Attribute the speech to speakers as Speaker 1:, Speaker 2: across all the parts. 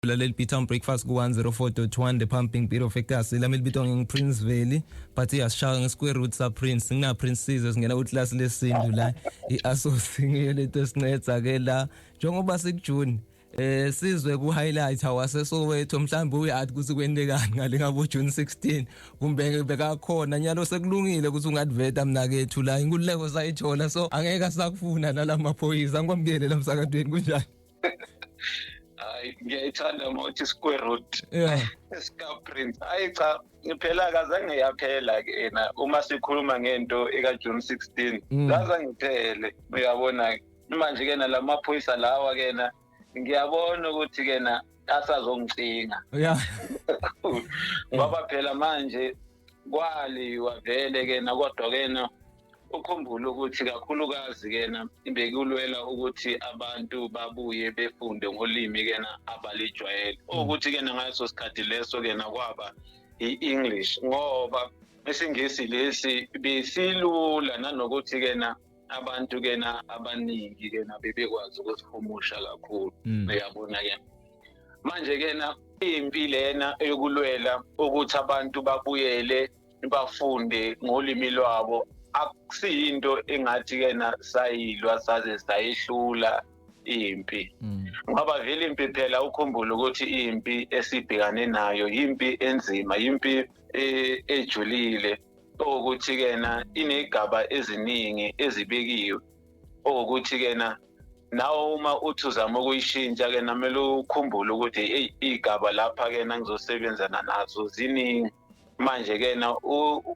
Speaker 1: Laleli Beatown Breakfast ku-104.1 The Pumping Beat of Ekasi lami libitwa ngingu-Prince Veli but iyasishaya nge-square root sa-Prince ngina-Prince Sizwe singena kwiklasi lesintu la i-asosi ngiyo lento esincedza-ke la njengoba sikujuni eh sizwe ku highlight awase Soweto mhlawumbe uyathi ukuthi kwentekani ngale ngabo June 16 kumbe bekakhona nyalo sekulungile ukuthi ungadveta mnakethu la inkululeko sayithola so angeke asakufuna nalama phoyisa ngikwamukele lamsakadweni kunjani hayi
Speaker 2: ngiyayithanda uma uthi square root yeah sikaprint hayi cha phela kazange yaphela ke yena uma sikhuluma ngento eka-june 16 Mm. kazange iphele uyabona manje ke na la maphoyisa lawa ke na ngiyabona ukuthi ke na asazongicinga yeah ngoba phela manje kwali wavele kena kodwa kena ukhumbule ukuthi kakhulukazi kena bekulwela ukuthi abantu babuye befunde ngolimi kena abalijwayele mm. ukuthi kena ngaso sikhathi leso kena kwaba i-english ngoba isingisi lesi besilula nanokuthi kena abantu ke na abaningi ke na bebekwazi ukusihumusha kakhulu mm. uyabona ke manje ke na impi lena eyokulwela ukuthi abantu babuyele bafunde ngolimi lwabo akusiyinto engathi ke na sayilwa saze sayihlula impi mm. ngoba vele impi phela ukhumbule ukuthi impi esibhekane nayo impi enzima impi e, ejulile okuthi kena inegaba eziningi ezibekiwe okuthi kena nawe uma uthi uzama ukuyishintsha ke namele ukhumbule ukuthi eyi iy'gaba lapha ke na ngizosebenzana nazo ziningi manje ke na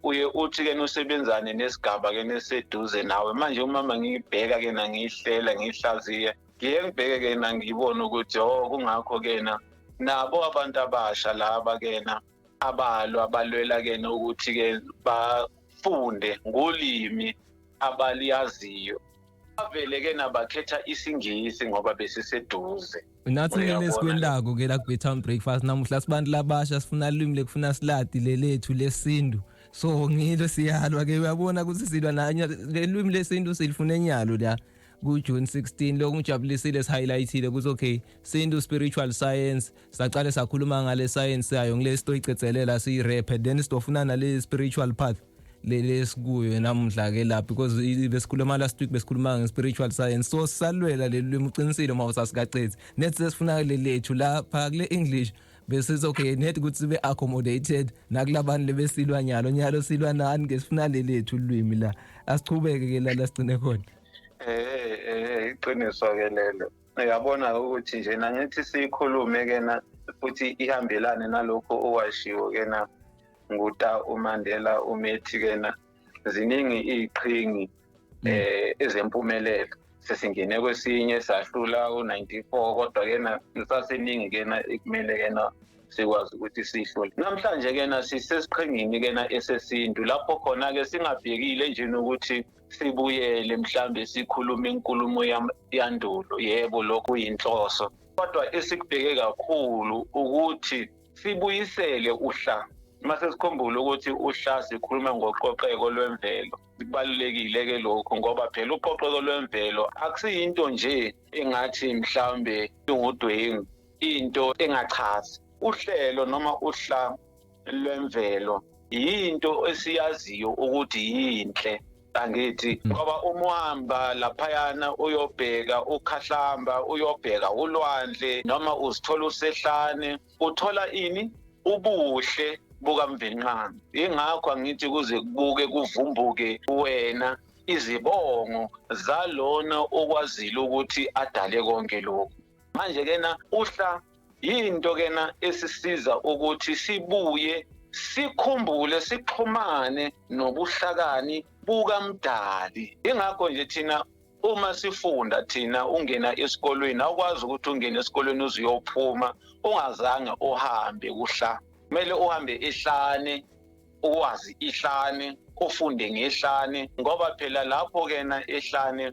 Speaker 2: uye uthi ke usebenzane nesigaba ke neseduze nawe manje uma ngiyibheka ke na ngiyihlela ngiyihlaziye ngiye ngibheke ke na ngiyibone ukuthi o oh, kungakho ke na nabo abantu abasha laba ke na abalo abalwela ke nokuthi ke bafunde ngolimi abaliyaziyo bavele ke nabakhetha isingisi ngoba besiseduze nathi mina
Speaker 1: esikwendako ke la ku-betown breakfast namuhla sibantu labasha sifuna limi lekufuna siladi lelethu lesintu so ngilo siyalwa ke uyabona ukuthi silwa nanye lelwimi lesintu silifuna enyalo la ku-june 16 lokhu ngijabulisile sihighlightile ukuthi okay sintu spiritual science saqale sakhuluma ngale science yayo ngile sitoyicethelela siyirephe then sitofuna nale spiritual path leli sikuyo namuhla ke lapha because besikhuluma last week besikhuluma nge spiritual science so salwela leli limi uqinisile uma usasikaqethi net sesifuna leli lethu lapha kule english besithi okay net ukuthi sibe accommodated nakulabantu lebesilwa nyalo nyalo silwa nani ke sifuna leli lethu ulwimi la asichubeke ke la la sigcine khona eh eh iqiniso
Speaker 2: ke lelo uyabona-ke ukuthi nje nangithi siyikhulume-ke na futhi ihambelane nalokho owashiwo-ke na nguta umandela umethi-ke na ziningi iy'qhingi um eh, ezempumelelo sesingene kwesinye sahlula u-94 kodwa-ke na kusaseningi-ke na ekumele-ke na sikwazi ukuthi sihlole namhlanje-ke na sisesiqhingini-ke na esesintu lapho khona-ke singabhekile nje nokuthi sibuyele mhlambe sikhuluma inkulumo yandulo yebo lokho yinhloso kodwa esikubheke kakhulu ukuthi sibuyisele uhla mase sikhumbule ukuthi uhla sikhuluma ngoqoqeko lwemvelo kubalulekile-ke lokhu ngoba phela uqoqeko lwemvelo akusiyinto nje engathi mhlawumbe ingudwengu into engachazi uhlelo noma uhla lwemvelo yinto esiyaziyo ukuthi yinhle angithi hmm. ngoba uma uhamba laphayana uyobheka ukhahlamba uyobheka ulwandle noma uzithola usehlane uthola ini ubuhle bukamvenqana ingakho angithi kuze kubuke kuvumbuke wena izibongo zalona okwazile ukuthi adale konke lokhu manje kena uhla yinto kena esisiza ukuthi sibuye sikhumbule sixhumane nobuhlakani bukamdali ingakho nje thina uma sifunda thina ungena esikolweni awukwazi ukuthi ungene esikolweni uze uyophuma ungazange uhambe kuhla kumele uhambe ihlane uwazi ihlane ufunde ngehlane ngoba phela lapho kena ehlane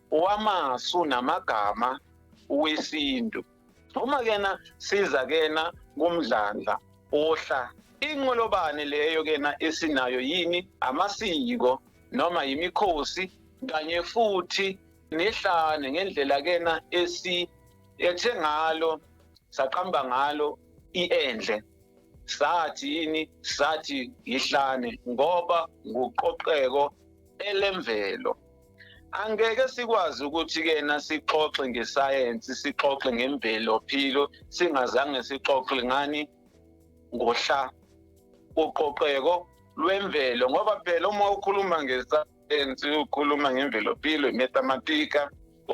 Speaker 2: wamasu namagama wesintu uma kena siza kena kumdlandla ohla inqolobane leyo kena esinayo yini amasiko noma yimikhosi kanye futhi nehlane ngendlela kena esi ethe ngalo saqamba ngalo iendle sathi yini sathi yihlane ngoba nguqoqeko elemvelo angeke sikwazi ukuthi kena sixoxe ngesayensi sixoxe ngemvelo philo singazange sixoxe ngani ngohla uqoqeko lwemvelo ngoba phela uma ukhuluma ngesayensi ukhuluma ngemvelo philo imathematika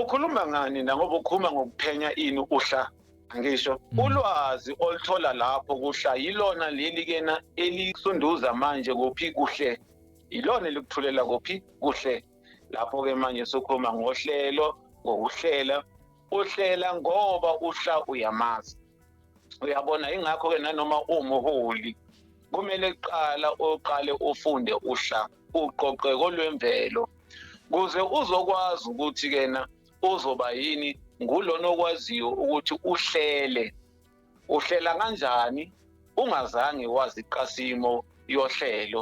Speaker 2: ukhuluma ngani nangoba ukhuluma ngokuphenya ini uhla ngisho mm. ulwazi oluthola lapho kuhla yilona leli kena elisunduza manje kuphi kuhle yilona elikuthulela kuphi kuhle lapho-ke manje sukhuluma ngohlelo ngokuhlela uhlela ngoba uhla uyamazi uyabona ingakho-ke nanoma uwumuholi kumele kuqala uqale ufunde uhla uqoqe kolwemvelo kuze uzokwazi ukuthi kena uzoba yini ngulona okwaziyo ukuthi uhlele uhlela kanjani ungazange wazi qasimo yohlelo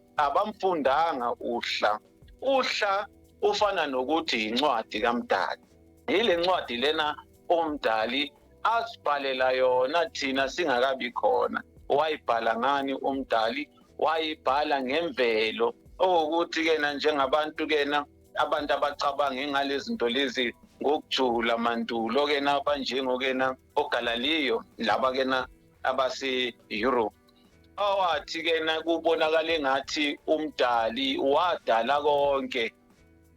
Speaker 2: abamfundanga uhla uhla ufana nokuthi yincwadi kamdali yile ncwadi lena umdali asibhalela yona thina singakabi khona wayibhala ngani umdali wayibhala ngemvelo okuwukuthi kena njengabantu kena abantu abacabange ngalezinto lezi ngokujula mandulo kena abanjengokena oGalaliyo laba kena abase Europe awathi kena kubonakala engathi umdali wadala konke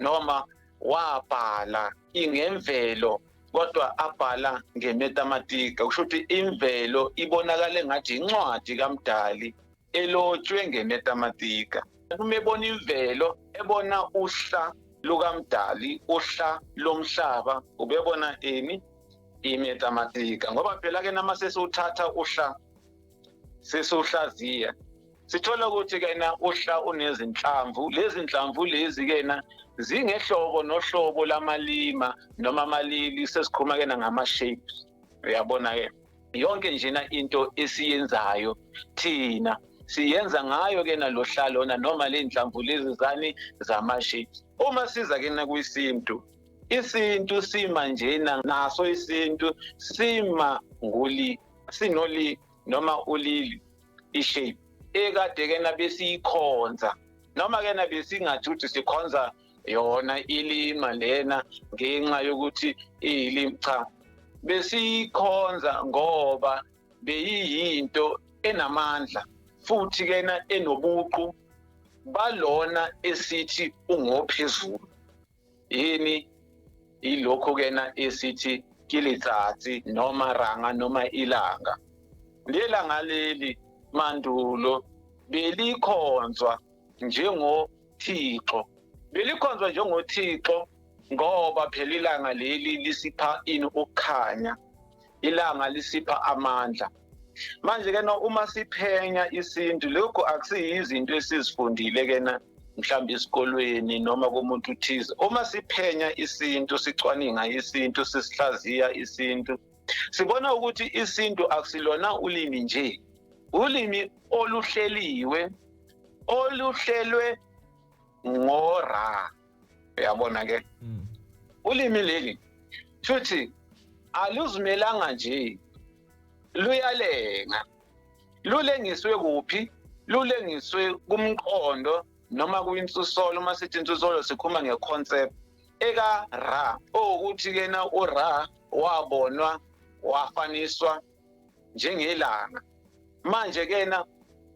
Speaker 2: noma wabhala ingemvelo kodwa abhala ngemetamatika kusho ukuthi imvelo ibonakala engathi incwadi kamdali elotshwe ngemetamatika. Uma ebona imvelo, ebona uhla lukaMdali, uhla lomhlaba, ubebona ini? Imetamatika. Ngoba phela ke nama sesiwuthatha uhla sesiwuhlaziya sithola ukuthi kena uhla unezinhlamvu lezi nhlamvu lezi kena zingehlobo nohlobo lamalima noma amalili sesikhuluma kena ngama-shapes uyabona-ke yonke njena into esiyenzayo thina siyenza ngayo ke nalohla lona noma le nhlamvu lezi zani zama-shapes uma siza ke nakwisintu isintu sima njena naso isintu sima nguli sinoli noma ulili i-shape ekade-kena besiyikhonza noma-kena besingathi ukuthi sikhonza yona ilima lena ngenxa yokuthi iyilimi cha besiyikhonza ngoba beyiyinto enamandla futhi kena enobuqu balona esithi ungophezulu yini ilokho kena esithi kilitsatsi noma ranga noma ilanga lelanga leli mandulo belikhonzwa njengo Thixo. Belikhonzwa njengothixo ngoba phela ilanga leli lisipha ini ukukhanya. Ilanga lisipha amandla. Manje ke na uma siphenya isintu lokho akusiyizinto esizifundile ke na mhlawumbe esikolweni noma komuntu uthize uma siphenya isintu sicwaninga isintu sisihlaziya isintu sibona ukuthi isintu akusilona ulimi nje ulimi oluhleliwe oluhlelwe ngora uyabona ke mm. ulimi leli futhi aluzimelanga nje luyalenga lulengiswe kuphi lulengiswe kumqondo noma kwinsusolo uma sithi insusolo sikhuluma nge-concept ekaRa okuthi kena uRa wabonwa wafaniswa njengelanga manje kena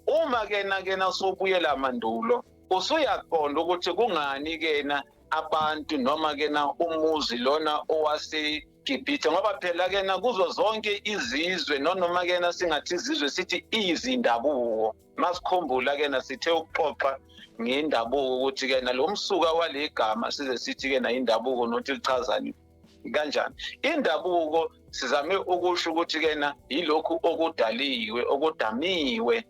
Speaker 2: uma kena kena sobuyela mandulo usuyaqonda ukuthi kungani kena abantu noma kena umuzi lona owase Gibhithe ngoba phela kena kuzo zonke izizwe nonoma kena singathi izizwe sithi izindabuko masikhumbula ke nasithe ukuxoxa ngendabuko ukuthi ke nalo msuka walegama size sithi ke na indabuko nothi lichazani kanjani indabuko sizame ukusho ukuthi ke na yilokhu okudaliwe okudamiwe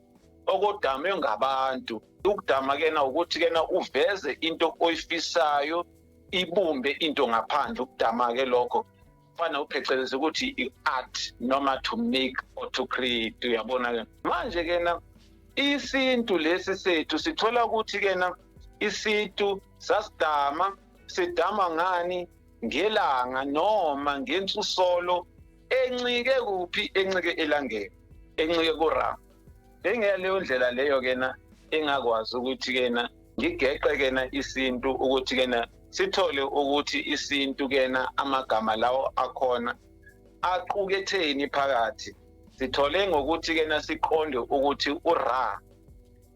Speaker 2: okudame ngabantu ukudama ke na ukuthi ke na uveze into oyifisayo ibumbe into ngaphandle ukudama ke lokho fana upheceleza ukuthi i-art noma to make or to create uyabona ke manje kena isintu lesi sethu sithola ukuthi kena isintu sasidama sidama ngani ngelanga noma ngensusolo encike kuphi encike elangeni encike kurama bengeyaleyo ndlela leyo kena engakwazi ukuthi kena ngigeqe kena isintu ukuthi kena sithole ukuthi isintu kena amagama lawo akhona aquketheni phakathi sithole ngokuthi kena siqonde ukuthi ura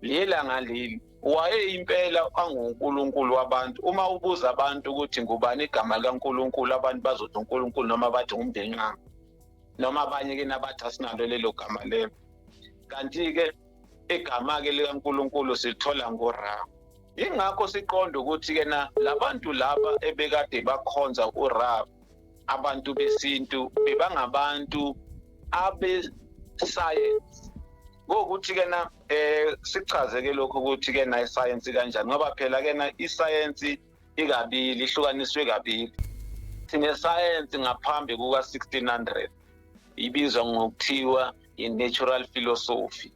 Speaker 2: lelanga leli wayeyimpela angunkulunkulu wabantu uma ubuza abantu ukuthi ngubani igama likankulunkulu abantu bazothi unkulunkulu noma bathi ngumndenqanga noma abanye ke nabathi asinalo lelo gama lelo kanti-ke igama-ke likankulunkulu silithola ngora yingakho siqonda ukuthi-ke na labantu laba ebekade bakhonza urab abantu besintu bebangabantu abesayensi ngokuthi-ke na um sichaze-ke lokhu ukuthi-ke na isayensi kanjani ngoba phela-ke na isayensi ikabili ihlukaniswe kabili sinesayensi ngaphambi kuka-1600 ibizwa ngokuthiwa i-natural philosophy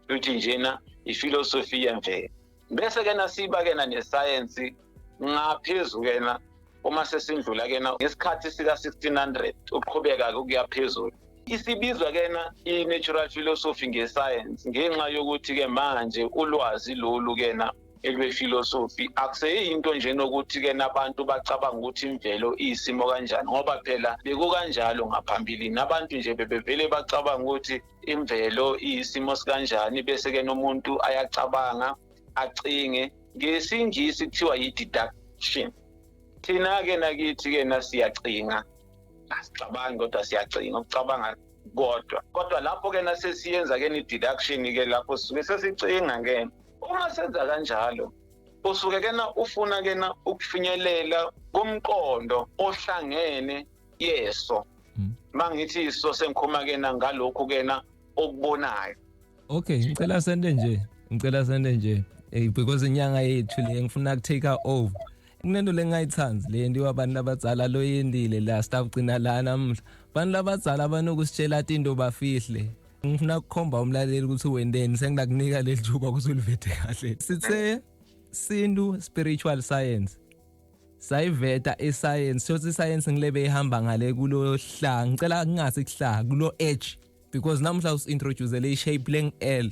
Speaker 2: luthi njena ifilosofi yemvelo bese kena siba kena nesayensi ngaphezu kena uma sesindlula kena ngesikhathi sika-1600 uqhubeka-ke ukuya phezulu isibizwa kena i-natural philosophy ngesayensi ngenxa yokuthi-ke manje ulwazi lolu kena ekwefilosofi akuseyinto nje nokuthi ke nabantu bacabanga ukuthi imvelo iyisimo kanjani ngoba phela bekukanjalo ngaphambilini abantu nje bebevele bacabanga ukuthi imvelo iyisimo sikanjani bese ke nomuntu ayacabanga acinge ngesingisi kuthiwa yi-deduction thina-ke nakithi-ke nasiyacinga asicabangi kodwa siyacinga ukucabanga kodwa kodwa lapho-ke nasesiyenza-ke ni-deduction-ke lapho sisuke sesicinga-ke uma senza kanjalo usuke kena ufuna kena ukufinyelela kumqondo ohlangene yeso hmm. mangithi iso sengikhuma kena ngalokhu kena okubonayo okay
Speaker 1: ngicela sende nje ngicela sende nje hey because inyanga yethu le ngifuna ku take over kunento lengayithandi le nto abantu abadzala loyendile la sitawugcina la namuhla abantu labadzala banokusitshela tinto bafihle ngifuna kukhomba umlaleli ukuthi wendeni sengilakunika leli thuba ukuthi ulivete kahle sithe sintu spiritual science sayiveta isayensi shothi isayensi ngilebe ihamba ngale kulo hla ngicela kungasi kuhla kulo edge because namuhla usintroduce le shape leng L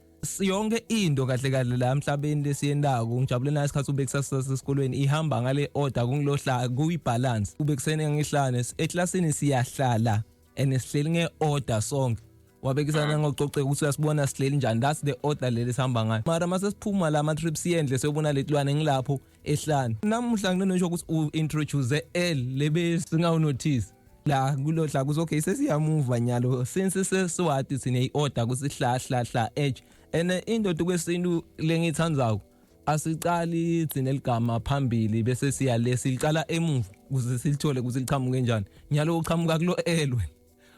Speaker 1: yonke into kahle kahle la emhlabeni lesiyendako ngijabule nayo isikhathi ube kusasasa esikolweni ihamba ngale order kungilohla kuyi balance ube kusene ngihlane eclassini siyahlala and sihleli nge order sonke wabekisana ngoxoxeka ukuthi uyasibona sihleli njani that's the order leli sihamba ngayo mara mase siphuma la ama trips yendle siyobona letilwane ngilapho ehlane namuhla nginono ngisho ukuthi u introduce L lebe singawu notice la kulodla kuthi okay sesiyamuva nyalo since sesiwati sine iorder kusihlahla hla edge and indoda kwesintu lengithandzayo asiqali thina eligama phambili bese siya lesiqala emuva kuze silithole kuze liqhamuke kanjani nyalo uqhamuka kulo elwe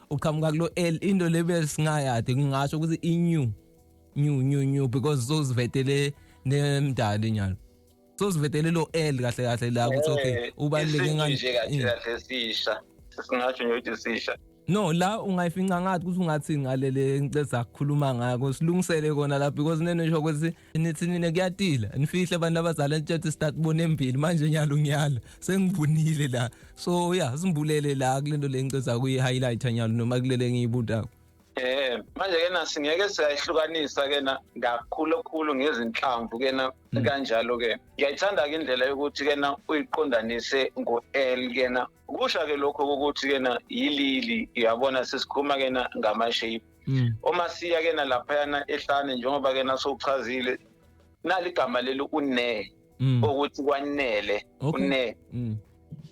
Speaker 1: uqhamuka kulo L into le besingayade kungasho ukuthi i new new new new because sozivetele nemdali nyalo sozivetele lo L kahle kahle la ukuthi okay eh, ubaleke ngani nje kahle kahle sisha singasho nje ukuthi sisha
Speaker 2: no la
Speaker 1: ungayifinca ngathi ukuthi ungathi ngalele ngicela ukukhuluma ngako silungisele kona la because nenesho ukuthi nithi nina kuyatila nifihle abantu abazala ntshethe start bona embili manje nyalo nyalo sengivunile la so ya simbulele la kulento lenceza kuyi highlight nyalo noma kulele ngiyibutako Eh
Speaker 2: manje ke na singeke siyayihlukanisa ke na kakhulu khulu ngezinhlamvu ke na mm. kanjalo ke ngiyayithanda ke indlela yokuthi ke na uyiqondanise ngo L ke na kusha ke lokho ukuthi ke na yilili uyabona sesikhuluma ke na ngama shape mm. uma siya ke nalaphayana ehlane njengoba ke nasokuchazile nali igama leli une mm. ukuthi kwanele okay. une mm.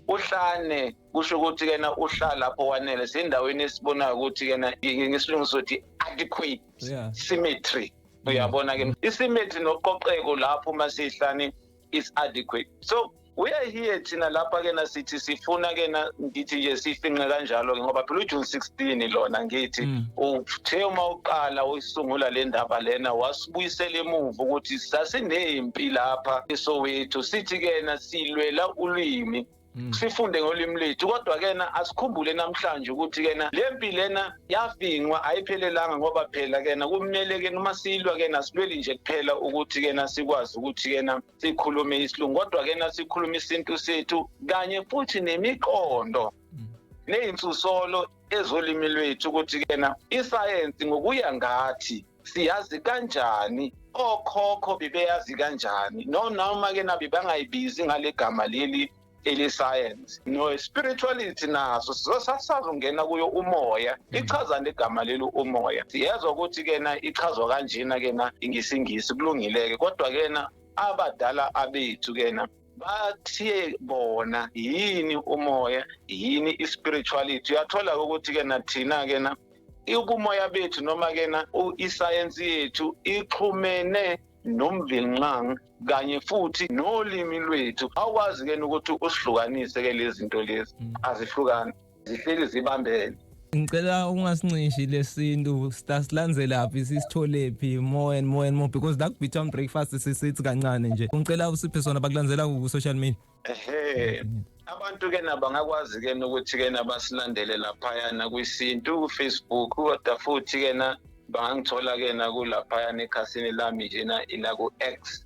Speaker 2: uhlane kusho ukuthi kena uhlala lapho wanele sendaweni esibonayo ukuthi kena ngesilungu sothi adequate yeah. symmetry uyabona ke mm. isymmetry noqoqeko lapho uma sihlani is adequate so we are here thina lapha ke na sithi sifuna ke na ngithi nje sifinqe kanjalo ke ngoba phela uJune 16 lona ngithi mm. uthe uma uqala uyisungula le ndaba lena wasibuyisela emuva ukuthi sasinempi lapha eSoweto sithi ke na silwela ulimi Mm. sifunde ngolimi lethu kodwa kena asikhumbule namhlanje ukuthi kena le mpi lena yavingwa ayiphelelanga ngoba phela kena kumele kena uma silwa kena silweli nje kuphela ukuthi kena sikwazi ukuthi kena sikhulume isilungu kodwa kena sikhulume isintu sethu kanye futhi nemiqondo mm. neyinsusolo ezolimi lwethu ukuthi kena isayensi ngokuya ngathi siyazi kanjani okhokho bebeyazi kanjani no noma ke nabi bangayibizi ngalegama leli ele science no spirituality naso sizosasaza ungena kuyo umoya mm. ichaza legama leli umoya siyezwa ukuthi kena ichazwa kanjena kena ingisingisi kulungileke kodwa kena abadala abethu kena bathiye bona yini umoya yini i-spirituality uyathola-ke ukuthi-ke nathina-ke na ubumoya bethu noma-ke na isayensi yethu ixhumene nomvinxangi kanye futhi nolimi lwethu awukwazi-ke ukuthi usihlukanise-ke lezi zinto lezi mm. azihlukani zihleli zibambene ngicela
Speaker 1: ungasinxishi lesintu sitasilandzelaphi sisitholephi more and more and more because that bit on breakfast sisithi kancane nje ngicela usiphe sona bakulandzela ku social media ehe
Speaker 2: abantu ke nabo ngakwazi ke nokuthi ke nabasilandele laphayana kwisintu kufacebook kodwa futhi ke na bangangithola ke nakulaphayana ekhasini lami njena ilaku-x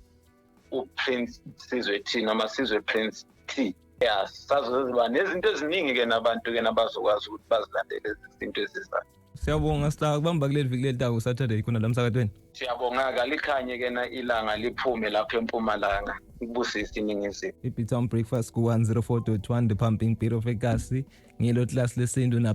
Speaker 2: uprince sizwe t noma sizwe prince t ya sazoziba nezinto eziningi-ke nabantu-ke nabazokwazi ukuthi bazilandele izinto ezizayo siyabonga sila
Speaker 1: kubamba kuleli viki leli taku saturday khona la msakatweni siyabonga-ke
Speaker 2: alikhanye ke na ilanga liphume lapho empumalanga ibusise iningizimu i-bitown
Speaker 1: breakfast ku-104.1 the pumping beat of ekasi ngilo class lesintu na